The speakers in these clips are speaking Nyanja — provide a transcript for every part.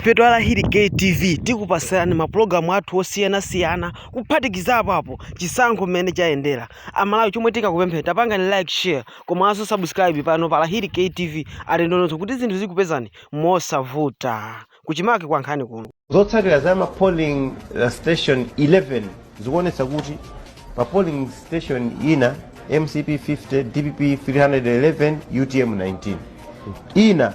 Ife twa la Hit Gate TV tikupasilani ma program athu osiyana siyana kuphatikizapo apo chisankho mmene chayendela. A Malawi chomwe tikukupemphani tapangani like, share komanso subscribe pano pa la Hit Gate TV ati ndondozo kuti zinthu zikupezeni mosavuta. Kuchimake kwa nkhani kuno. Zotsatira za ma polling uh, station 11 zikuonetsa kuti pa polling station ina mcp 50, dpp 311, utm 19. Ina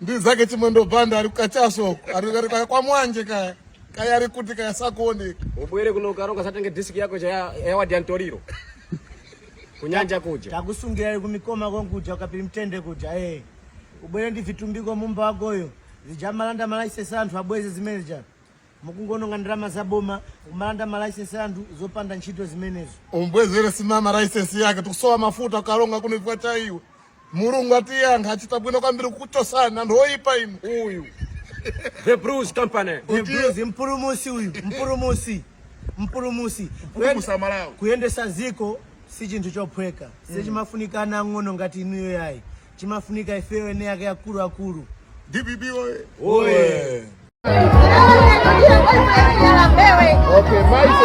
ndi zake Chimwendo Banda ali kukachaso ali ali kaya kwa mwanje kaya kaya ali kuti kaya sakuoneka ubwere kuno ukaronga uzatenge disk yako cha ya- ya wadi ya Ntoriro kunyanja kuja takusungira kumikoma konkuja uKapiri Mtende kuja eh ubwere ndi Vitumbiko Mumba wakoyo zijamalanda malaisensi anthu abweze zimene ja Mukungononga ndalama za boma umalanda ma license anthu zopanda ntchito zimenezo. umbwezere Simama license yake tikusowa mafuta ukaronga kuno chifukwa cha iwe mulungu atiyankha achita bwino kwambiri kukuchosani anthu oyipa inu uyu The Bruce Company. The Blues, mpulumusi uyu mpulumusi mpulumusi Kuyen- Kupulumusa Malawi. kuyendesa ziko si chinthu chophweka sichimafunika ana ang'ono ngati inuyo yayi Chimafunika ifeyo ene yake akulu akulu. DPP oye. Oye. Okay, maiko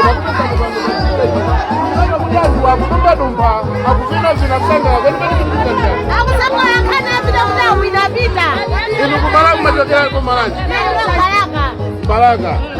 Mbalaka.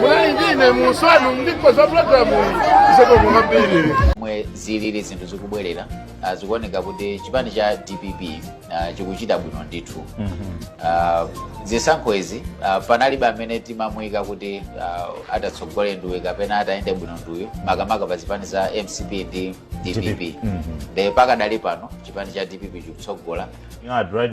munali ndine musanu ndipo za pulogalamuyi zikomo kwambiri momwe zilili zinthu zikubwerera ah, zikuoneka kuti chipani cha dpp ah, chikuchita bwino ndithu Ah, zisankho izi ah, panalibe amene timamuyika kuti ah, atatsogole nduyu kapena atayende bwino nduyu makamaka pa zipani za mcp ndi dpp nde pakadali pano chipani cha dpp chikutsogola You know, I'd rather